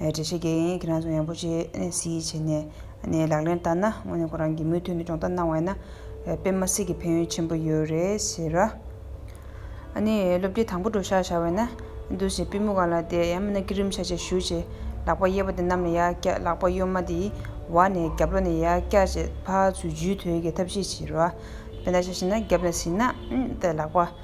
གྲལ་བཤེར་འགན་ཡིན་ཁྱེད་རང་ཚོ་ཡང་པོ་ཆེ་སིའི་ཆེ་ནས་ནས་ལག་ལེན་བསྟར་ན་དངོས་ནས་ཁོ་རང་གིས་མུ་མཐུད་ནས་སྦྱོང་བརྡར་གནང་བ་ཡིན་ན་དཔེ་མ་སི་གི་ཕན་ཡོན་ཆེན་པོ་ཡོད་རེད་ཟེར་ར། ནས་སློབ་དེབ་དང་པོ་འགྲོ་ཤག་ཤག་བས་ན་འདུག་ཟེར་པི་མུག་ག་ལ་དེ་ཡང་མིན་ན་སྐྱིད་རིམ་ཤ་ཆེ་ཞུ་ཆེ་ལག་པ་གཡས་པ་དེ་གནམ་ལ་ཡར་བཀྱག་ལག་པ་གཡོན་མ་དེ་བ་ནས་རྒྱབ་ལོག་ནས་ཡར་བཀྱག་ཅེས་ཕ་ཚུལ་རྒྱུས་ཐོན་གྱི་ཐབས་ཤེས་བྱེད་ར། དཔེ་ལྟ་ཤ་ཤེས་ན་རྒྱབ་ནས་ཟིན་ན་ལག་པ།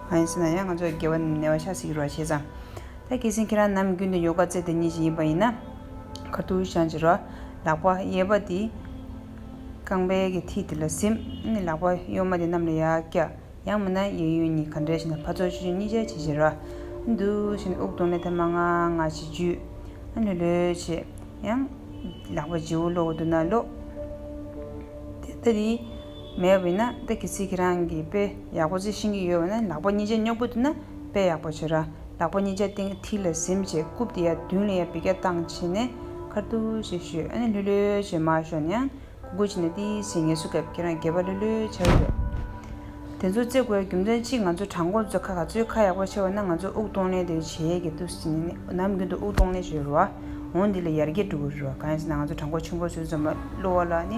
མ་ཡིན་ཟེར་ན་ཡང་ང་ཚོ་རྒྱལ་བ་ནས་བ་ཤ་ཟེར་གྱི་རོགས་བྱས་ཙང། ད་གལ་སྲིད་ཁྱེད་རང་ནམ་རྒྱུན་དུ་ཡོ་ག་རྩེ་དེ་གཉིས་ཞིག་ཡིན་པ་ཡིན་ན། ཁ་ཐུར་བཤང་གཅི་རོགས། ལག་པ་གཡས་པ་དེ་རྐང་པའི་གི་མཐིལ་དེ་ལ་གཟིམ། ནི་ལག་པ་གཡོན་མ་དེ་གནམ་ལ་ཡར་བཀྱག། ཡང་མིན་ན་གཡས་གཡོན་གཉིས་ག་འདྲ་ཞིག་ན་ཕར་ཚུར་ཆུ་ཆུ་གཉིས་ཆ་བྱེད་བྱེད་རོགས། འདུ་ཞིག་ནི་དབུགས་གཏོང་ནས་ཐ་མ་ང་ང་བྱེད་རྒྱུ། ལྷོད་ལྷོད་བྱེད། ཡང། ལག་པ་ལྗི་བོ་སློག་གི་འདུག་ན་སློག། དེ་ལྟ་དེ། མེད་པ་ཡིན་ན་ད་གི་ཚིག་གི་རང་གི་དཔེ་ཡག་པོ་ཚིག་ཤིང་གི་ཡོད་བ་ན་ལག་པ་གཉིས་ཆ་རྙོག་པོ་དེ་ན་དཔེ་ཡག་པོ་བྱོས་ར་ལག་པ་གཉིས་ཆ་སྟེང་གི་ཐིག་ལ་གཟིམ་བྱས་རྐུབ་དེ་ཡ་བདུན་ལ་ཡ་བི་ག་བཏང་བྱས་ནས་ཁར་ཐུ་ཞེས་ཞུས་ཨ་ནི་ལྷོད་ལྷོད་བྱས་མ་ཞོག་ནས་ཡང་གུ་གུ་བྱས་ནས་ཏི་ཞེས་ངལ་གསོ་སྐབས་ཁྱེད་རང་དགེ་བ་ལྷོད་ལྷོད་བྱ་རེད་དེ་ཚོ་བརྩི་དགོས་རྒྱུ་མཚན་གཅིག་ང་ཚོ་དྲང་ཁོ་ཚོ་ཁ་ག་ཚོའི་ཁ་ཡག་པོ་ཆེ་བ་ན་ང་ཚོ་དབུགས་གཏོང་ལེན་དེ་བྱེད་ཀྱི་འདུག་ཟིན་ནས་ནམ་རྒྱུན་དུ་དབུགས་གཏོང་ལེན་བྱོས་རུ་ཨོ་འདི་ལ་ཡར་རྒྱས་འགྲོ་གི་རུ་ཨ་གང་ཡིན་ཟེར་ན་ང་ཚོ་དྲང་ཁོ་ཆུང་ཁོ་ཚོའི་འཛོམས་པ་གློ་བ་ལ་ནི།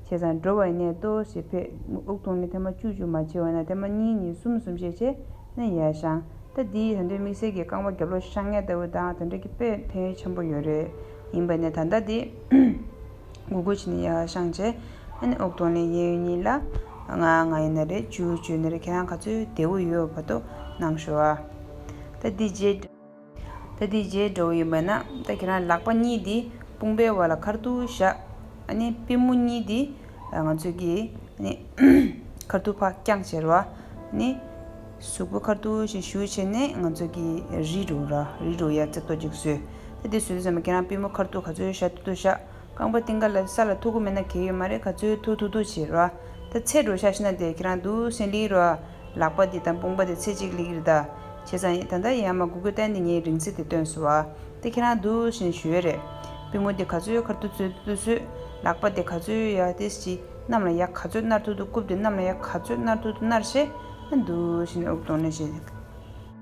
བྱས་ཙང་འགྲོ་བའི་གནས་ལྟོ་ཞེས་ཕེབས། དབུགས་ཐོག་མའི་ཐལ་མ་བཅུ་བཅུ་མ་ཕྱེ་བ་ན་ཐལ་མ་གཉིས་གཉིས་གསུམ་གསུམ་ཕྱེ་བྱས་ན་ཡལ་བཤང་རྟ་འདིའི་ད་འདོད་མིག་སེར་གྱི་རྐང་པ་རྒྱབ་ལོགས་བཤང་ངད་ལྟ་བུ་དང་དེ་འདྲ་གི་དཔེ་ཕན་ཡོད་ཆེན་པོ་ཡོད་རེད། ཡིན་པ་ནས་ད་ལྟ་དེ་མགོ་སྒུར་བྱས་ནས་ཡལ་བཤང་བྱས། དབུགས་ཐོག་ནས་གཡས་གཡོན་གཉིས་ལ། ང་ང་ཡིན་ན་རེད་བཅུ་བཅུ་ཡིན་ན་རེད་ཁྱེད་རང་ག་ཚོད་བདེ་བོ་ཡོད་པ་ཏོ་གནང་ཞོ་ཨ། ད་འདི་རྗེས། ད་དེའི་རྗེས་འགྲོ་གི་ཡོད་པས་ན་ད་ཁྱེད་རང་ལག་པ་གཉིས་དེ་དཔུང་པའི་བར་ལ་ཁར་ཐུག་བཞག་ཨ་ནི་པི་མོ་གཉིས་དེ་ང་ཚོས་ཀྱིས་ནི་ཁར་ཐུག་ཕག་བརྐྱངས་བྱེད་ར་བ་ནི་ཟུག་པོ་ཁར་ཐུག་ཞིག་ཞུ་བྱས་ནས་ང་ཚོས་ཀྱིས་རི་རུ་ར་རི་རུ་ཡར་རྩེ་ཏོ་ཅིག་བཟོས་ད་དེ་བཟོས་ཟེར་ན་ཁྱེད་རང་པི་མོ་ཁར་ཐུག་ག་ཚོད་བཞག་ཐུག་ཐུག་བཞག་རྐང་པ་སྟེང་ག་ལ་ས་ལ་ཐུག་གི་མེད་ན་གས་ཡོད་མ་རེད་ག་ཚོད་ཐུག་ཐུག་ཐུག་བྱེད་ར་བ་ད་ཚེ་འགྲོ་བཞག་ཤི་ན་དེ་ཁྱེད་རང་དུ་སེང་ལིའི་ར་བ། ལག་པ་འདི་དང་དཔུང་པ་འདི་ཚེ་གཅིག་ལེགས་ཡིར་ཟླ། བྱས་ཙང་ཡིན་ད་ལྟ་ཡན་མ་གུ་གུ་བསྟན་འདི་ངས་རིང་ཚེ་འདི་སྟོན་སོ། དེ་ཁྱེད་རང་འདུག་བཞིན་ཞུ་ཡ་རེད། པུས་མོ་འདི་ག་ཚོད་ཡོད་ཁར་ཏུ་ཚོད་ཏུ་ཚོད། ལག་པ་འདི་ག་ཚོད་ཡོད་ཡ་དེ་སྤྱི། གནམ་ལ་ཡ་ག་ཚོད་མནར་ཐུག་ཏུ་རྐུབ་འདི་གནམ་ལ་ཡ་ག་ཚོད་མནར་ཐུག་ཏུ་མནར་བྱས། འདུག་བཞིན་ཨུག་གདོང་ནས་བཤད།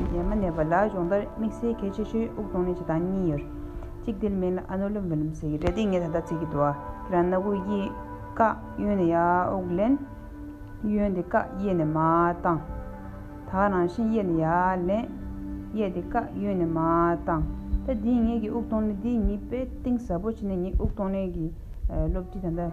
ཡས་མ་གནས་པ་ལ་སྦྱོང་བརྡར་དམིགས་བསལ་གལ་ཆེ་ཤོས་དབུགས་གཏོང་ནས་ཆ་དང་གཉིས་ཡོད། གཅིག་དེར་མེད་ལ་ཨ་ནུ་ལུམ་བུ་ལུམ་ཟེར་གྱི་སྒྲ་དེ་ངས་ད་ལྟ་ཚིག་གི་དུ་བ་དེ་རང་སྣ་དགུ་གཡས་ཀ་གཡོན་ནས་ཡར་དབུགས་ལེན། གཡོན་དེ་ཀ་གཡས་ནས་མར་བཏང། དག་རང་བཞིན་གཡས་ནས་ཡར་ལེན། གཡས་དེ་ཀ་གཡོན་ནས་མར་བཏང། ད་དེའི་ངས་ཀྱི་དབུགས་གཏོང་ནས་དེའི་གཉིས་པའི་གཏིང་ཟབ་པོ་བྱས་ནས་ངས་དབུགས་གཏོང་ནས་ཀྱི་སློབ་ཁྲིད་ད་ལྟ།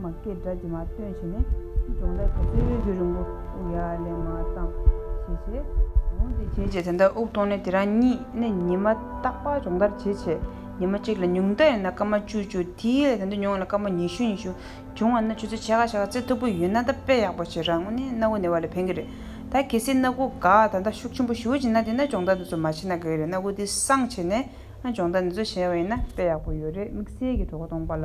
མ་སྐད་སྒྲ་བརྗེད་མ་སྟོན་བྱས་ནས། འབྱུང་ལས་ཐོག་སེར་བོའི་བུ་རིང་པོ་དབུགས་ཡར་ལེན་མ་བཏང། ཞེས་བྱས། འོང་དེ་བྱས་བྱས་དེ་འདྲ་དབུགས་གཏོང་ནས་དེ་རང་ཉིད་ནས་ཉི་མ་བརྟག་པ་སྦྱོང་བརྡར་བྱས་བྱས་ཉི་མ་གཅིག་ལ་ཉུང་མཐའ་ཡིན་ན་སྐར་མ་བཅུ་བཅུ་དེའི་ལས་དེ་འདྲ་ཉུང་བ་ལ་སྐར་མ་ཉི་ཤུ་ཉི་ཤུ་འབྱུང་བ་ན་ཁྱོད་ཚོས་བྱས་ཁ་བྱས་ཁ་རྩེ་མཐུག་པོ་ཡོད་ན་ད་དཔེ་ཡག་པོ་བྱེད་རང་ངོ་ནས་སྣ་སྒོ་ནས་བ་ལས་ཕན་གི་རེད་ད་གལ་སྲིད་སྣ་སྒོ་འགག་ད་ལྟ་ཤུགས་ཆེན་པོ་ཞུ་བྱེད་ན་དེ་ན་སྦྱོང་བརྡར་འདི་ཚོ་མ་བྱེད་ན་ག་གི་རེད་སྣ་སྒོ་འདི་སངས་བྱས་ནས་སྦྱོང་བརྡར་འདི་ཚོ་བྱས་བ་ཡིན་ན་དཔེ་ཡག་པོ་ཡོད་རེད་དམིགས་བསལ་གྱི་གྲོགས་པོ་སྟོང་པ་ལ།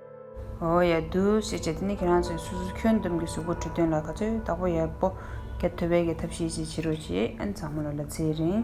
འོ་ཡ་བདུད་ཞེས་བྱ་དེ་ནི་ཁྱེད་རང་ཚོས་སོ་སོ་ཁྱོད་འདོམས་ཀྱི་གཟུགས་པོ་བྲི་དོན་ལ་ག་ཚོད་བདག་པོ་ཡག་པོ་རྒྱབ་ཐོ་བས་ཀྱི་ཐབས་ཤེས་ཅིག་བྱེད་རོགས་ཞེས་ཨན་ཚང་མ་ལ་ལ་ཚེ་རིང།